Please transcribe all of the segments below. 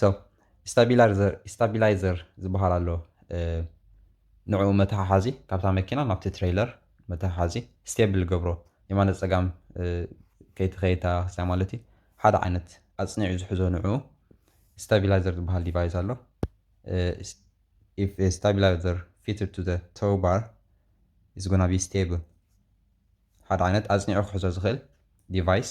So ስታቢላርዘር ስታቢላይዘር ዝበሃል ኣሎ ንዕኡ መተሓሓዚ ካብታ መኪና ናብቲ ትሬይለር መተሓሓዚ ስቴብል ገብሮ የማነ ፀጋም ከይትኸይታ ክስያ ማለት እዩ ሓደ ዓይነት ኣፅኒዑ ዝሕዞ ንዕኡ ስታቢላይዘር ዝበሃል ዲቫይስ ኣሎ if a stabilizer fitted to the tow bar is gonna be stable ሓደ ዓይነት ኣፅኒዑ ክሕዞ ዝኽእል ዲቫይስ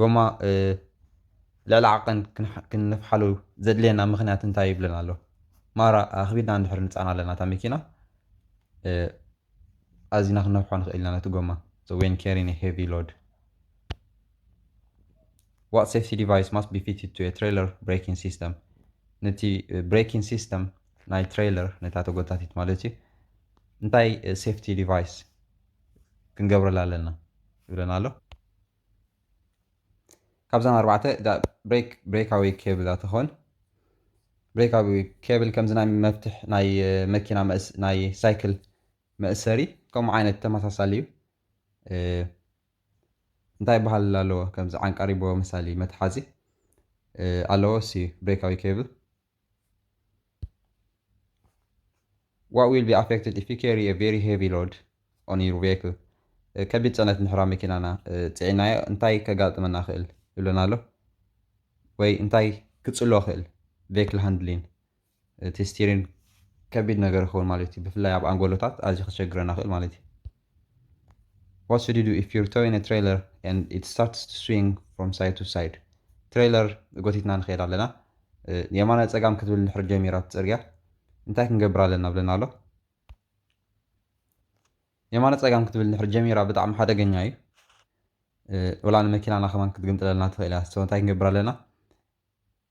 ጎማ ልዕሊ ዓቐን ክንፍሓሉ ዘድልየና ምኽንያት እንታይ እዩ ይብለና ኣሎ። ማራ ኣኽቢድና እንድሕር ንጻና ኣለና እታ መኪና ኣዚና ክንነፍሖ ንኽእል ኢና ነቲ ጎማ so when carrying a heavy load what safety device must be fitted to a trailer braking system ነቲ ብሬኪንግ ሲስተም ናይ ትሬለር ነታ ተጎታቲት ማለት እዩ እንታይ ሴፍቲ ዲቫይስ ክንገብረላ ኣለና ይብለና ኣሎ። ካብዘን ኣርባዕተ እታ ብሬክ ብሬካዊ ኬብል እያ ትኾን። ብሬካዊ ኬብል ከምዚ ናይ መፍትሕ ናይ መኪና ናይ ሳይክል መእሰሪ ከምኡ ዓይነት ተመሳሳሊ እዩ። እንታይ ይበሃል ኣለዎ ከምዚ ዓንቃሪቦ መሳሊ መትሓዚ ኣለዎ ሲ ብሬካዊ ኬብል What will be affected if you carry a very heavy load on your vehicle? ከቢድ ጽዕነት እንድሕር ኣብ መኪናና ጽዒናዮ እንታይ ከጋጥመና ይኽእል ይብለና ኣሎ ወይ እንታይ ክጽሎ ይኽእል ቬክል ሃንድሊን እቲ ስቲሪን ከቢድ ነገር ይኸውን ማለት እዩ ብፍላይ ኣብ ኣንጎሎታት ኣዝዩ ከሸግረና ይኽእል ማለት እዩ What should you do if you're towing a trailer and it starts to swing from side to side? ትሬይለር ጎቲትና ንኸይድ ኣለና የማነ ጸጋም ክትብል ድሕሪ ጀሚራ ትጽርግያ እንታይ ክንገብር ኣለና ብለና ኣሎ የማነ ጸጋም ክትብል ድሕሪ ጀሚራ ብጣዕሚ ሓደገኛ እዩ ወላ ንመኪናና ከማን ክትግንጥለልና ትኽእል እያ ሰው እንታይ ክንገብር ኣለና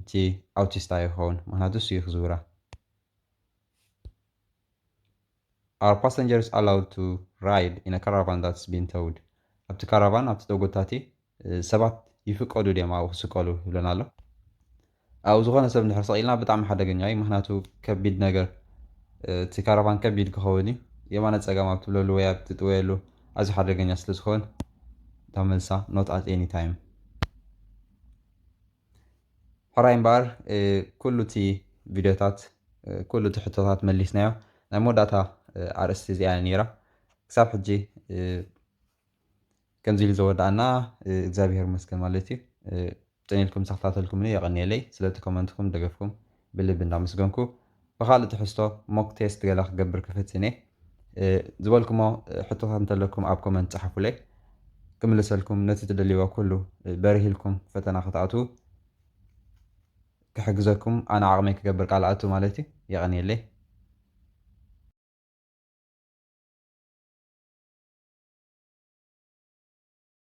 እቲ ኣውቲስት ኣዩ ክከውን ምክንያቱ እሱ እዩ ክዝውራ። Are passengers allowed to ride in a caravan that's been towed? ኣብቲ ካራቫን ኣብቲ ተጎታቲ ሰባት ይፍቀዱ ድዮም ኣብኡ ክስቀሉ ይብለና ኣሎ። ኣብኡ ዝኾነ ሰብ እንድሕር ሰቒልና ብጣዕሚ ሓደገኛ እዩ ምክንያቱ ከቢድ ነገር እቲ ካራቫን ከቢድ ክኸውን እዩ የማነ ጸጋም ኣብ ትብለሉ ወይ ኣብ ትጥወየሉ ኣዝዩ ሓደገኛ ስለ ዝኸውን እታ መልሳ ኖት ኣት ኤኒ ታይም ሕራይ እምበኣር ኩሉ እቲ ቪድዮታት ኩሉ እቲ ሕቶታት መሊስናዮ ናይ መወዳእታ ኣርእስቲ እዚኣ ነይራ ክሳብ ሕጂ ከምዚ ኢሉ ዘወዳእና እግዚኣብሄር መስገን ማለት እዩ ጥንኢልኩም ዝተኸታተልኩምኒ የቐኒየለይ ስለቲ ኮመንትኩም ደገፍኩም ብልቢ እንዳመስገንኩ ብኻልእ ትሕዝቶ ሞክ ቴስት ገለ ክገብር ክፍትን እየ። ዝበልኩሞ ሕቶታት እንተለኩም ኣብ ኮመንት ጸሓፉለይ ክምልሰልኩም ነቲ ትደልይዎ ኩሉ በሪህልኩም ፈተና ክትኣትዉ ክሕግዘኩም ኣነ ዓቕመይ ክገብር ቃል ኣቱ ማለት እዩ። የቐንየለይ።